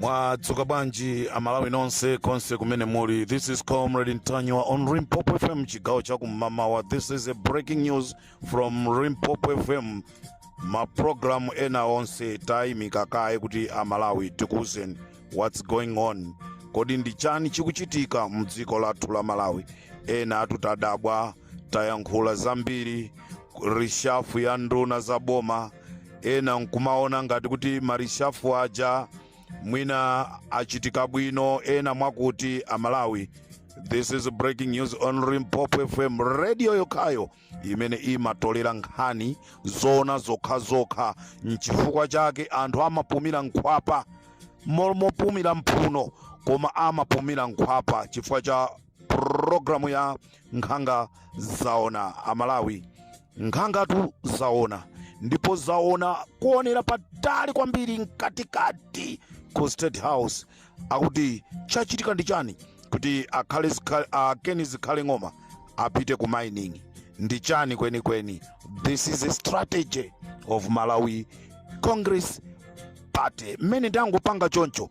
mwadzuka bwanji amalawi nonse konse kumene muli this is comrade ntanyiwa on limpopo fm chigawo cha kum'mawa this is a breaking news from limpopo fm mapulogalamu ena onse tayimika kaye kuti amalawi tikuwuzeni what's going on kodi ndi chani chikuchitika mdziko lathu la malawi ena atu tadabwa tayankhula zambiri reshuffle ya nduna za boma ena nkumaona ngati kuti ma reshuffle aja mwina achitika bwino ena mwakuti amalawi this is breaking news on limpopo fm radio yokhayo imene imatolera nkhani zona zokhazokha nchifukwa chake anthu amapumira mkhwapa mopumira mphuno koma amapumira mkhwapa chifukwa cha programu ya nkhanga zaona amalawi nkhangatu zaona ndipo zaona kuonera patali kwambiri mkatikati ku state house akuti chachitika ndi chani kuti akhale zikha- a ken zikhale ng'oma apite ku mining ndi chani kwenikweni this is a strategy of malawi congress party mmene tangopanga choncho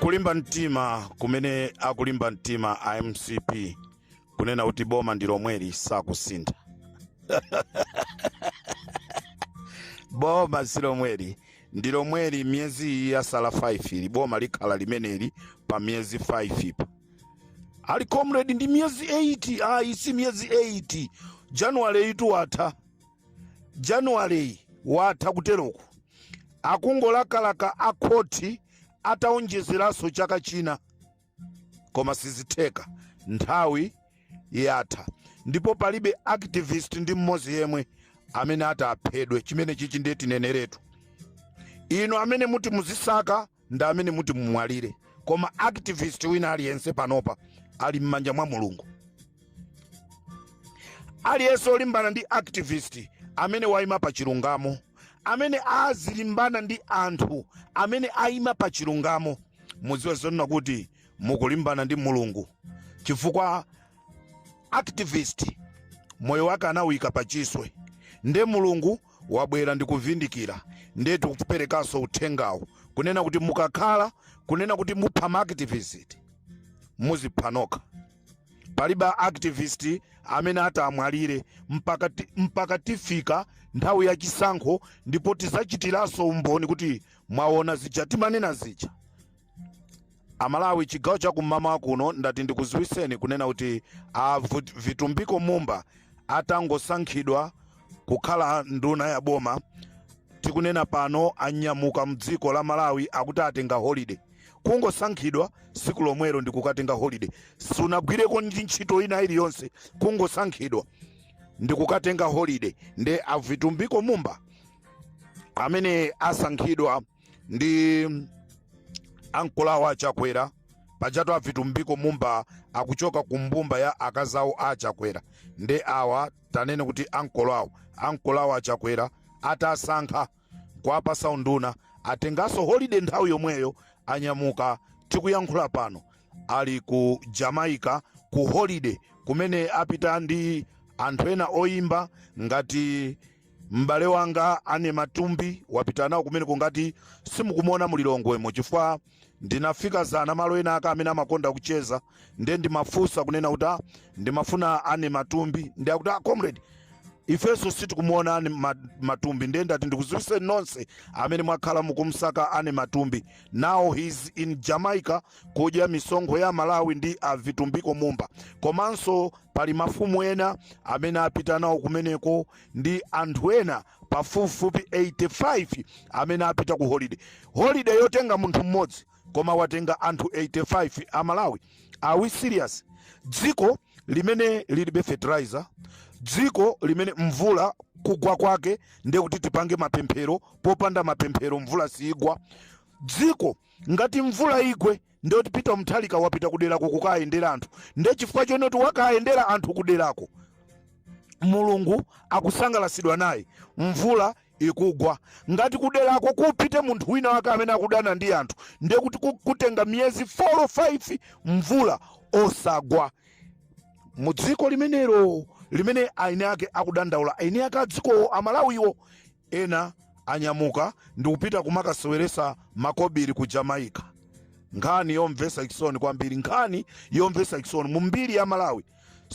kulimba mtima kumene akulimba mtima a mcp kunena kuti boma ndi lomweli sakusintha boma si lomweli ndi lomweli miyezi iyi yasala 5 ili boma likhala limeneli pa miyezi 5 pa ali comrade ndi miyezi 8 ayi si miyezi 8 januwaleyitu watha januwaleyi watha kuteroku akungolakalaka a khoti ataonjezeranso chaka china koma sizitheka nthawi yatha ndipo palibe activist ndi mmodzi yemwe amene ati aphedwe chimenechichi ndiye tineneretu inu amene muti muzisaka ndi amene muti mumwalire koma activist wina aliyense panopa ali m'manja mwa mulungu aliyense olimbana ndi activist amene waima pa chilungamo amene azilimbana ndi anthu amene aima pa chilungamo mudziwe zonena kuti mukulimbana ndi mulungu chifukwa activist moyo wake anawuyika pachiswe nde mulungu wabwera ndi kuvindikira ndiye tikuperekanso uthengawo kunena kuti mukakhala kunena kuti mupha ma activist muzipha nokha palibe activist amene atamwalire mpaka tifika nthawi ya chisankho ndipo tizachitiranso umboni kuti mwaona zija timanena zija amalawi chigawo cha kum'mawa kuno ndati ndikuziwiseni kunena kuti a Vitumbiko mumba atangosankhidwa kukhala nduna ya boma tikunena pano anyamuka mdziko la malawi akuti atenga holiday kungosankhidwa siku lomwelo ndikukatenga holiday sunagwireko ndi ntchito ina iliyonse kungosankhidwa ndikukatenga holiday nde avitumbiko mumba amene asankhidwa ndi ankolo awo achakwera pajatu avitumbiko mumba akuchoka ku mbumba ya akazi awo a achakwera nde awa tanene kuti ankolo awo ankolo awo achakwera atasankha kuwapasa unduna atenganso holide nthawi yomweyo anyamuka tikuyankhula pano ali ku jamaica ku holide kumene apita ndi anthu ena oyimba ngati m'bale wanga Annie Matumbi wapita nawo kumeneko ngati simukumuona mulilongwemo chifukwa ndinafika zana malo ena ake amene amakonda kucheza nde ndimafunsa kunena kuti "Ah, ndimafuna Annie Matumbi nde akuti "Ah, comrade ifenso sitikumuona Annie Ma- Matumbi nde ndati ndikuziwiseni nonse amene mwakhala mukumsaka Annie Matumbi now he's in jamaica kudya misonkho ya malawi ndi avitumbiko mumba komanso Pali mafumu ena amene apita nawo kumeneko ndi anthu ena pafupifupi 85 amene apita ku holiday. Holiday yotenga munthu mmodzi koma watenga anthu 85 a Malawi? Are we serious? Dziko limene lilibe fertilizer, dziko limene mvula kugwa kwake ndi kuti tipange mapemphero, popanda mapemphero mvula siigwa. Dziko ngati mvula igwe. ndi woti Peter Mutharika wapita kuderako kukayendera anthu nde chifukwa chonena kuti wakayendera anthu kuderako mulungu akusangalasidwa naye mvula ikugwa ngati kuderako kupite munthu wina wake amene akudana ndi anthu nde kuti ku- kutenga miyezi 4 or 5 mvula osagwa mu dziko limenelo limene eni ake akudandaula eni ake a dzikowo amalawiwo Ena anyamuka ndikupita kumakaseweresa makobili ku Jamaica. Nkhani yomvesa chisoni kwambiri nkhani yomvesa chisoni mu mbiri ya Malawi.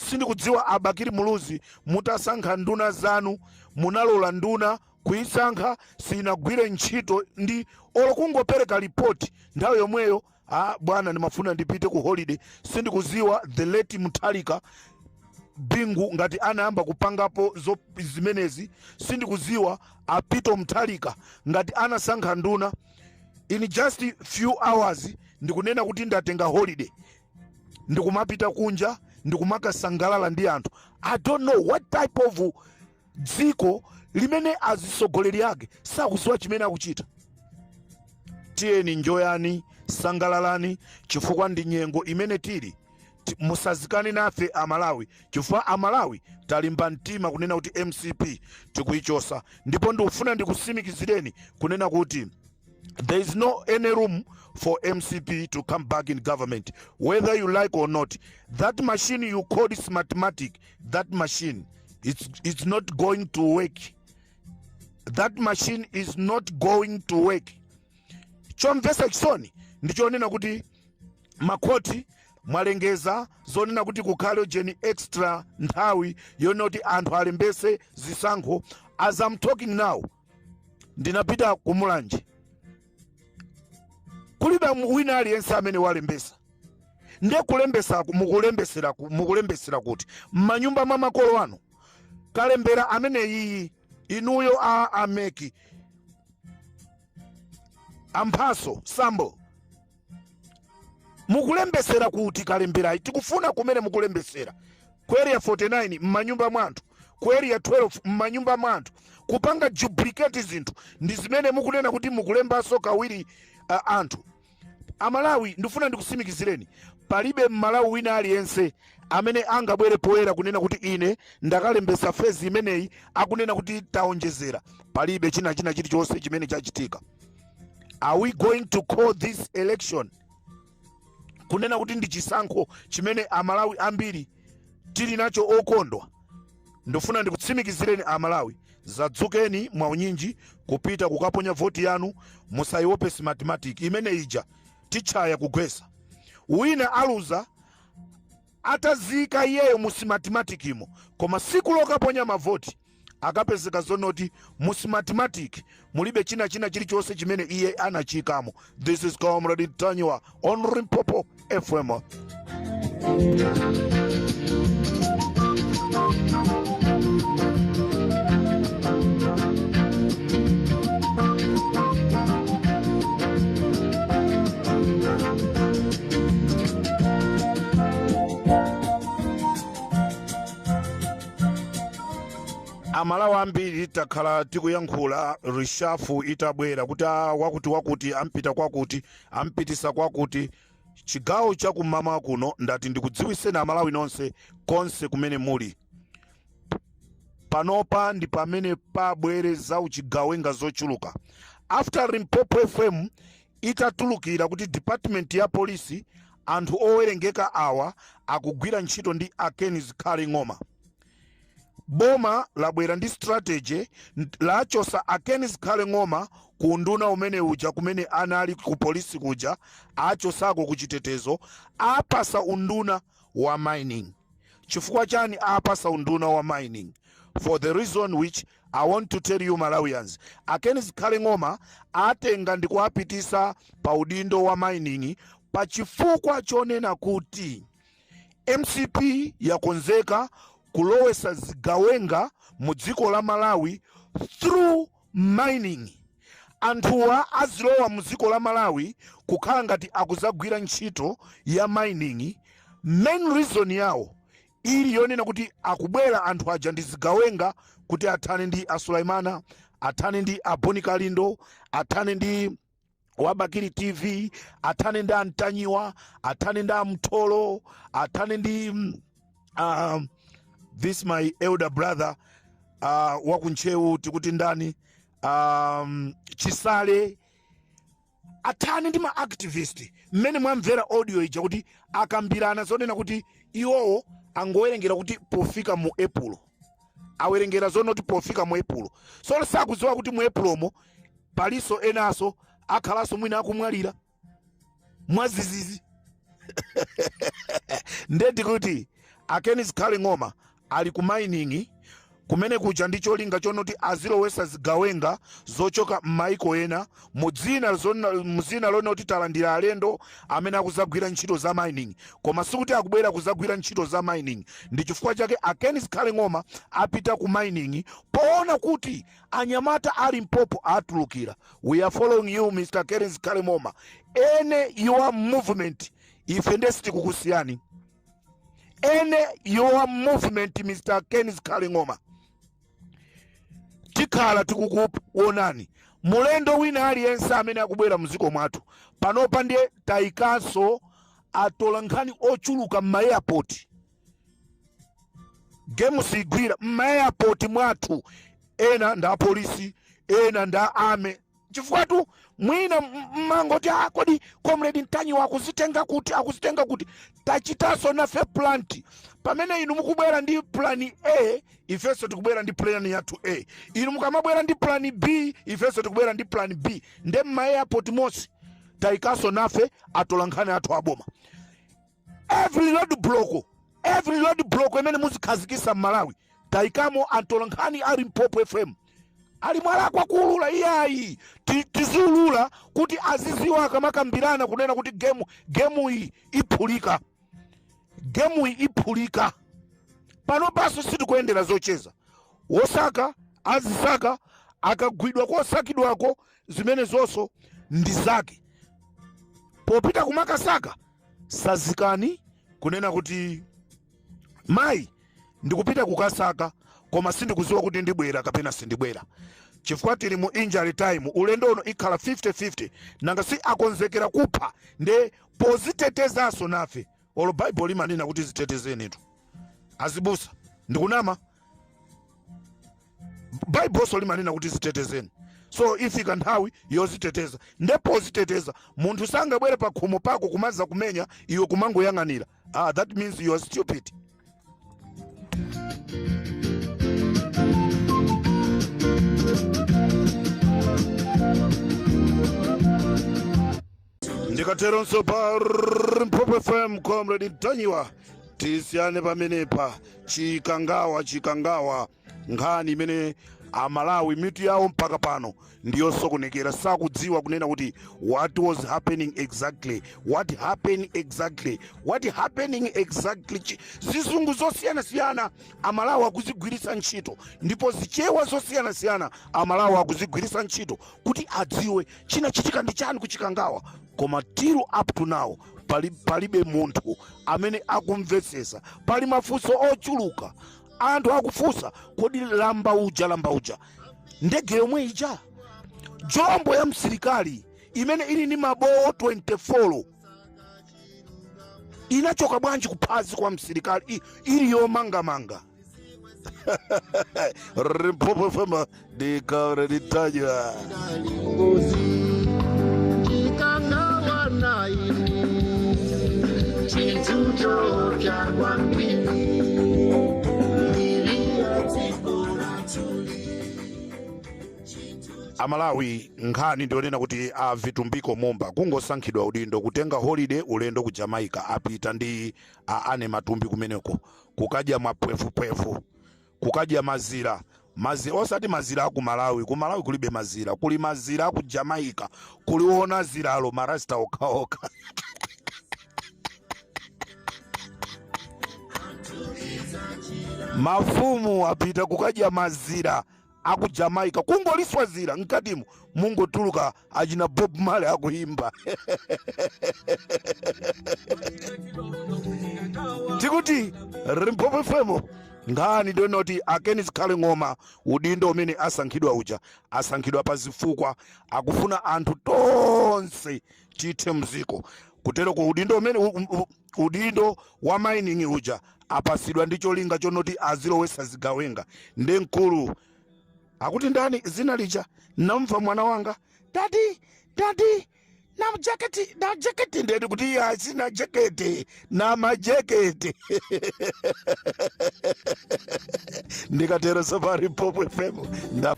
Sindikudziwa a Bakili Muluzi mutasankha nduna zanu munalola nduna kuyisankha siyinagwire ntchito ndi olo kungopereka report nthawi yomweyo. Ah, bwana ndimafuna ndipite ku holiday sindikuziwa the late Mutharika Bingu ngati anayamba kupangapo zo- zimenezi sindikuziwa a Peter Mutharika ngati anasankha nduna in just few hours ndikunena kuti ndatenga holiday ndikumapita kunja ndikumakasangalala ndi anthu i don't know what type of dziko limene azitsogoleri ake sakuziwa chimene akuchita tiyeni njoyani sangalalani chifukwa ndi nyengo imene tili Ti- musazikane nafe amalawi chifukwa amalawi talimba mtima kunena kuti mcp tikuyichotsa ndipo ndikufuna ndikusimikizireni kunena kuti there is no any room for mcp to come back in government whether you like or not that machine you call smartmatic that machine it's, it's not going to work that machine is not going to work chomvesa chisoni ndichonena kuti makhoti mwalengeza zonena kuti kukhale ujeni extra nthawi yonena kuti anthu alembese zisankho as i'm talking now ndinapita ku mulanje kulibe mu- wina aliyense amene walembesa ndiye kulembesa mukulembesera ku- mukulembesera kuti m'manyumba mwa makolo anu kalembera ameneyiyi inuyo a ameki a mphatso sambo mukulembesera kuti kalemberayi tikufuna kumene mukulembesera ku area 49 m'manyumba mwa anthu ku area 12 m'manyumba mwa anthu kupanga duplicate zinthu ndi zimene mukunena kuti mukulembanso kawiri uh, anthu amalawi ndifuna ndikusimikizireni palibe mmalawi wina aliyense amene angabwere poyera kunena kuti ine ndakalembesa fezi imeneyi akunena kuti taonjezera palibe china chinachilichonse chimene chachitika are we going to call this election kunena kuti ndi chisankho chimene amalawi ambiri tili nacho okondwa ndifuna ndikutsimikizireni amalawi zadzukeni mwaunyinji kupita kukaponya voti yanu musaiope smartmatic imene ija titchaya kugwesa wina aluza ataziika iyeyo mu simatimatikimo koma siku lokaponya mavoti akapezeka zonoti mu simatimatic mulibe china chinachilichonse chimene iye anachiikamo this is comrade ntanyiwa on limpopo fm amalawi ambiri takhala tikuyankhula rishafu itabwera kuti "Ah, wakuti wakuti ampita kwakuti ampitisa kwakuti chigawo chakummawa kuno ndati ndikudziwiseni amalawi nonse konse kumene muli panopa ndi pamene pabwere za uchigawenga zochuluka after limpopo fm Itatulukira kuti department ya police anthu owerengeka awa akugwira ntchito ndi a Ken Zikhale Ng'oma. Boma labwera ndi strategy nd- lachosa a Ken Zikhale Ng'oma ku unduna umene uja kumene anali ku polisi kuja achosako ku chitetezo apasa unduna wa mining. Chifukwa chani apasa unduna wa mining? For the reason which I want to tell you Malawians, a Ken Zikhale Ng'oma atenga ndikuwapitisa pa udindo wa mining pa chifukwa chonena kuti mcp yakonzeka kulowesa zigawenga mu dziko la Malawi through mining. Anthuwa azilowa mu dziko la Malawi kukhala ngati akuzagwira ntchito ya mining. Main reason yawo ili yonena kuti akubwera anthu aja ndi zigawenga kuti athane ndi a Suleimana, athane ndi a Bon Kalindo, athane ndi wa Bakili TV athane ndi a Mtanyiwa athane ndi a Mtolo athane ndi mm, um, this my elder brother uh, wa ku Ntcheu tikuti ndani um, Chisale athane ndi ma activist mmene mwamvera audio ija kuti akambirana zonena kuti iwowo angowerengera kuti pofika mu epulo awerengera zonena kuti pofika mu epulo tsono sakudziwa kuti mu epulomo palinso enanso akhalanso mwina akumwalira mwazizizi ndiye kuti a Ken Zikhale Ng'oma ali ku mining kumene kuja ndi cholinga chonoti azilowesa zigawenga zochoka m'maiko ena mu dzina zonna- mu dzina lonoti talandira alendo amene akuzagwira ntchito za mining koma sikuti akubwera kuzagwira ntchito za mining ndi chifukwa chake a Ken Zikhale Ng'oma apita ku mining poona kuti anyamata ali mpopo atulukira we are following you Mr. Ken Zikhale Ng'oma any your movement ife nde sitikukusiyani any your movement Mr. Ken Zikhale Ng'oma tikhala tikukuonani mlendo wina aliyense amene akubwera mdziko mwathu panopa ndiye tayikanso atola nkhani ochuluka m'maeyapoti gemu sigwira m'maeyapoti mwathu ena ndi apolisi ena ndi a me chifukwatu mwina mmangoti a ah, kodi comrade Mtanyiwa akuzitenga kuti akuzitenga kuti tachitaso nafe plan pamene inu mukubwera ndi plan a ifenso tikubwera ndi plan yathu a inu mukamabwera ndi plan b ifenso tikubwera ndi plan b nde mma airport monse tayikaso nafe atolankhani athu aboma every road block every road block imene muzikhazikisa m'malawi tayikamo antolankhani a limpopo fm ali mwalakwa kuulula iyayi Ti- tiziulula kuti aziziwa akamakambirana kunena kuti gemu gemu iyi iphulika gemu iyi iphulika pano paso sitikuyendera zocheza wosaka azisaka akagwidwa kosakidwako zimene zonso ndi zake popita kumakasaka sazikani kunena kuti mayi ndikupita kukasaka koma sindikuziwa kuti ndibwera kapena sindibwera chifukwa tili mu injury time ulendo uno ikhala 50-50 nanga si akonzekera kupha nde pozitetezanso nafe olo baibulo limanena kuti zitetezenitu azibusa ndikunama baibulo limanena kuti zitetezeni so ifika nthawi yoziteteza ndipo poziteteza munthu sangabwere pa khomo pako kumaza kumenya iwe kumangoyang'anira ah, that means you are stupid ndikatero pa limpopo fm comrade ntanyiwa tisiyane pamenepa chikangawa chikangawa nkhani imene amalawi mitu yawo mpaka pano ndiyosokonekera sakudziwa kunena kuti what was happening exactly what happened exactly what happening exactly Chi- zizungu zosiyanasiyana amalawi akuzigwiritsa ntchito ndipo zichewa zosiyanasiyana amalawi akuzigwiritsa ntchito kuti adziwe chinachitika ndi chani kuchikangawa koma till up to now pali, palibe munthu amene akumvetsesa pali mafunso ochuluka anthu akufunsa kodi lamba uja lamba uja ndege yomwe ija jombo ya msilikali imene ili ndi mabowo 24 inachoka bwanji kuphazi kwa msilikali I- ili yomangamanga Limpopo FM. ndi comrade ntanyiwa amalawi nkhani ndiyonena kuti a vitumbiko mumba kungosankhidwa udindo kutenga holiday ulendo ku jamaica apita ndi anamatumbi kumeneko kukadya mapwevupwevu kukadya mazira, mazira, osati mazira aku Malawi, ku Malawi kulibe mazira, kuli mazira aku Jamaica, kuliona ziralo ma Rasta okhaokha. Mafumu apita kukadya mazira aku Jamaica, kungoliswa zira, mkatimo mungotuluka achina bob male akuimba tikuti Limpopo fm nkhani donoti akeni zikhale ng'oma udindo umene asankhidwa uja asankhidwa pa zifukwa akufuna anthu tonse tithe mdziko kuteroko udindo umene u- u- u- udindo wa mining uja apasidwa ndi cholinga chonoti azilowesa zigawenga ndi mkulu akuti ndani zina lija namva mwana wanga dadi dadi na mjeketi na jeketi ndeni kuti iye asina jeketi na majeketi ndikatero safari Limpopo fm nda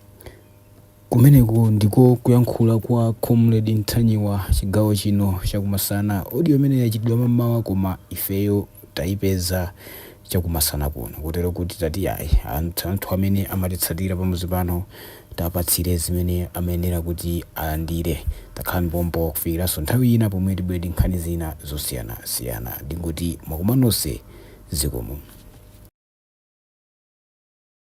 kumeneko ndiko kuyankhula kwa comrade ntanyiwa chigawo chino chakumasana audio imene yachitidwa mamawa koma ifeyo tayipeza chakumasana kuno kotero kuti tati yayi anthu anthu amene amatitsatira pamuzi pano tapatsire zimene amayenera kuti alandire takhala ndi pompo kufikiranso nthawi ina pomwe tibwere ndi nkhani zina zosiyana siyana ndingoti mwakoma nonse zikomo